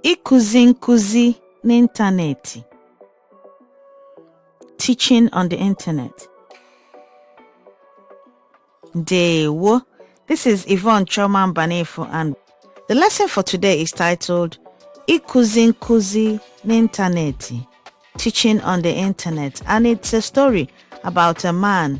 Ịkụzi nkụzi n'ịntanetị Teaching on the Internet Ndewo This is Yvonne Chioma Mbanefo and the lesson for today is titled Ịkụzi nkụzi n'ịntanetị Teaching on the Internet and it's a story about a man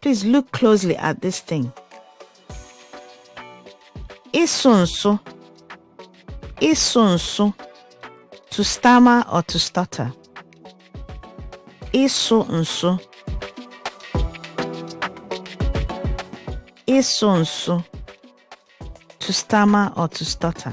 Please look closely at this thing. Ịsụ nsụ. Ịsụ nsụ. To stammer or to stutter. Ịsụ nsụ. Ịsụ nsụ. To stammer or to stutter.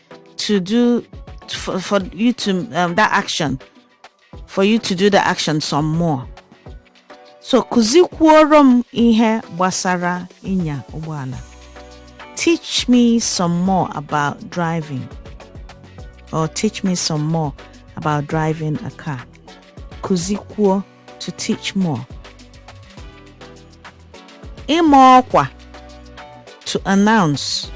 to do for, for you to um, that action for you to do the action some more so kụzikwuoro m ihe gbasara ịnya ụgbọala teach me some more about driving or teach me some more about driving a car kụzikwuo to teach more. Ịma ọkwa to announce.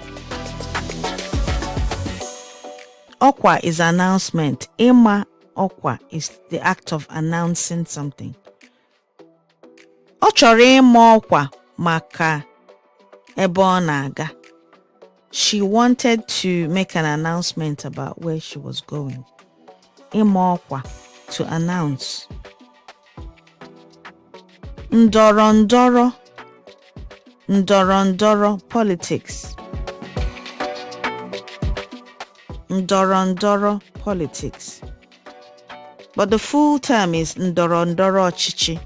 Ọkwa is announcement. Ịma ọkwa is the act of announcing something. Ọ chọrọ ịma ọkwa maka ebe ọ na-aga. She wanted to make an announcement about where she was going. Ịma ọkwa to announce. Ndọrọ ndọrọ ndọrọ ndọrọ politics. Ndọrọ ndọrọ politics. But the full term is ndọrọ ndọrọ ọchịchị.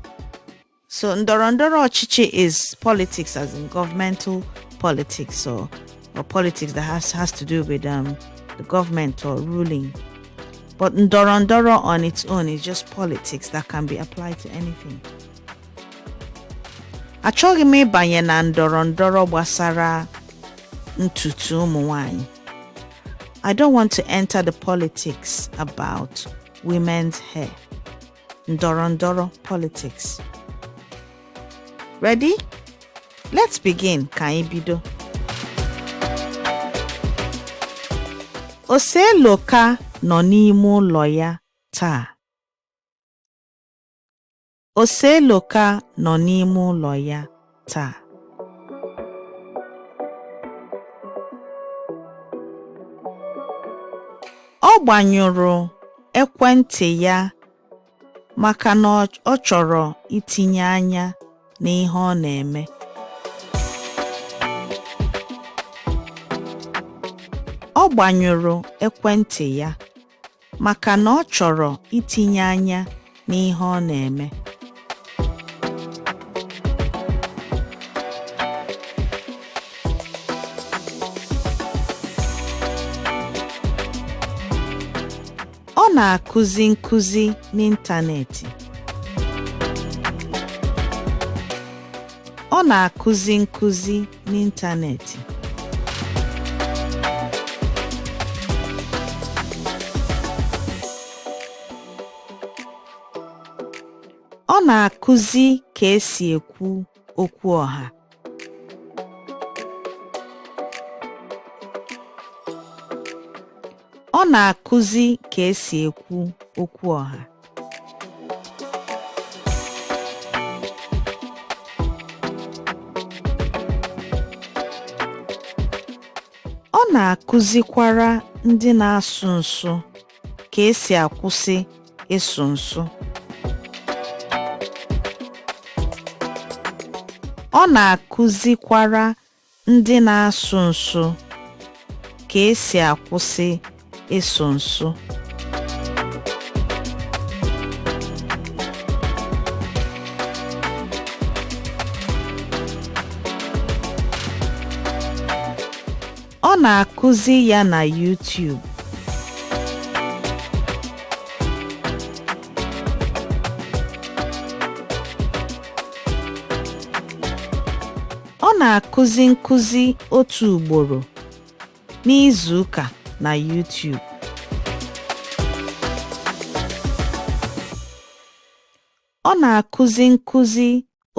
So ndọrọ ndọrọ ọchịchị is politics as in governmental politics or or politics that has has to do with um the government or ruling. But ndọrọ ndọrọ on its own is just politics that can be applied to anything. Achọghị m ịbanye na ndọrọ ndọrọ gbasara ntutu ụmụ nwanyị. I don't want to enter the politics about women's hair. ndọrọ ndọrọ politics. Ready? Let's begin ka anyị bido. Oseloka nọ n'ime ụlọ ya taa. Oseloka nọ n'ime ụlọ ya. taa ọ gbanyụrụ ekwentị ya maka na ọ chọrọ itinye anya n'ihe ọ na-eme ọ gbanyụrụ ekwentị ya maka na ọ chọrọ itinye anya n'ihe ọ na-eme. Ọ na-akụzi nkụzi n'ịntanetị. Ọ na-akụzi nkụzi n'ịntanetị. Ọ na-akụzi ka e si ekwu okwu ọha. Ọ na-akụzi ka e si ekwu okwu ọha. Ọ na-akụzikwara ndị na-asụ nsụ ka e si akwụsị ịsụ nsụ. Ọ na-akụzikwara Ndị na-asụ nsụ ka e si akwụsị ịsụ nsụ. Ọ na-akụzi ya na YouTube. Ọ na-akụzi nkụzi otu ugboro n'izuụka na YouTube. Ọ na-akụzi nkụzi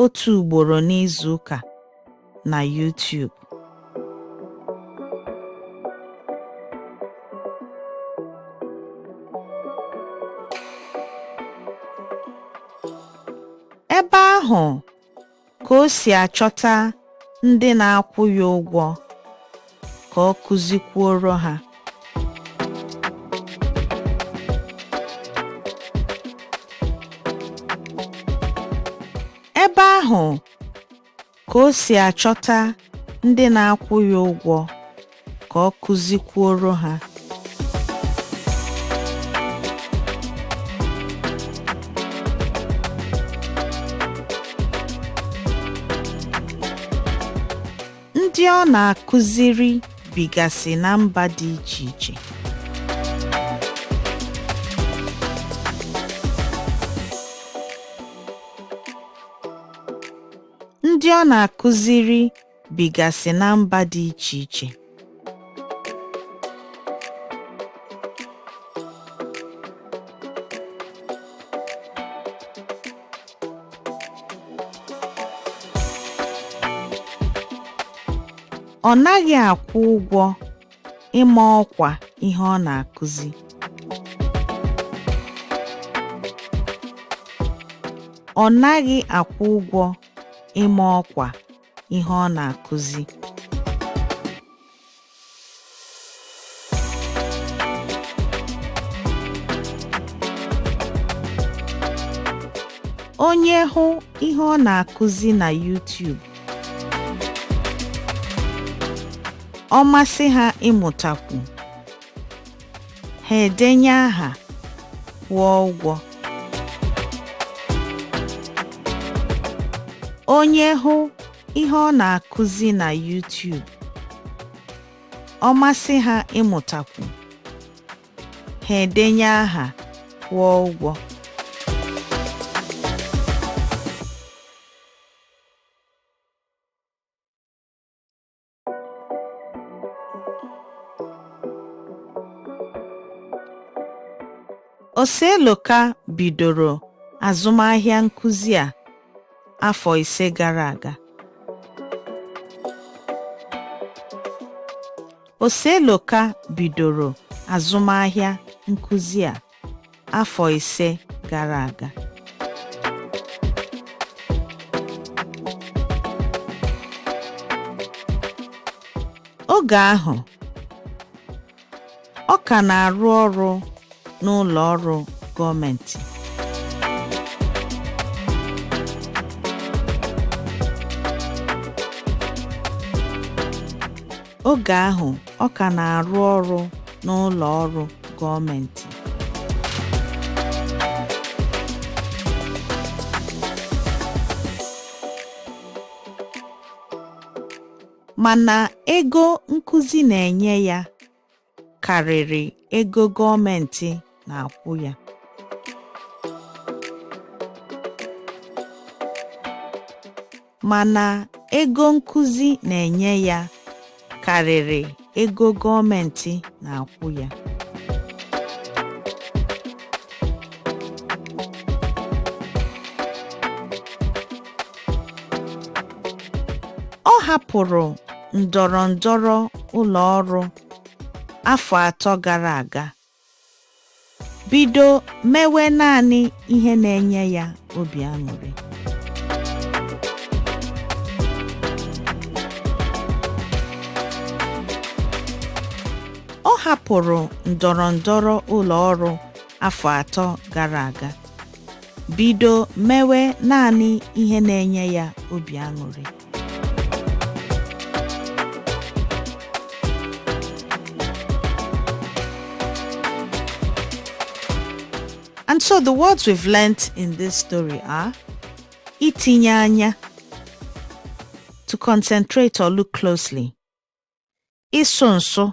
otu ugboro n'izuụka na YouTube. Ebe ahụ ka o si achọta ndị na-akwụ ya ụgwọ ka ọ kụzikwuoro ha. Ebe ahụ ka o si achọta ndị na-akwụ ya ụgwọ ka ọ kụzikwuoro ha. Ndị ọ na-akụziri bigasị na mba dị iche iche. Ndị ọ na-akụziri bigasị na mba dị iche iche. Ọ naghị akwụ ụgwọ ịma ọkwa ihe ọ na-akụzi. Ọ naghị akwụ ụgwọ ịma ọkwa ihe ọ na-akụzi. Onye hụ ihe ọ na-akụzi na YouTube, ọ masị ha ịmụtakwu. Ha edenye aha, kwụọ ụgwọ. Onye hụ ihe ọ na-akụzi na YouTube, ọ masị ha ịmụtakwu, ha edenye aha, kwụọ ụgwọ. Oseloka bidoro azụmahịa nkụzi a afọ ise gara aga. Oseloka bidoro azụmahịa nkụzi a. afọ ise gara aga. Oge ahụ, ọ ka na-arụ ọrụ n'ụlọ ọrụ gọọmentị. Oge ahụ ọ ka na-arụ ọrụ n'ụlọ ọrụ gọọmentị. Mana ego nkụzi na-enye ya karịrị ego gọọmentị na-akwụ ya. Mana ego nkụzi na-enye ya karịrị ego gọọmentị na-akwụ ya. Ọ hapụrụ ndọrọ ndọrọ ụlọ ọrụ afọ atọ gara aga, bido mewe naanị ihe na-enye ya obi aṅụrị. Ọ hapụrụ ndọrọ ndọrọ ụlọ ọrụ afọ atọ gara aga. bido mewe naanị ihe na-enye ya obi aṅụrị. And so the words we've learnt in this story are itinye anya, to concentrate or look closely, ịsụ nsụ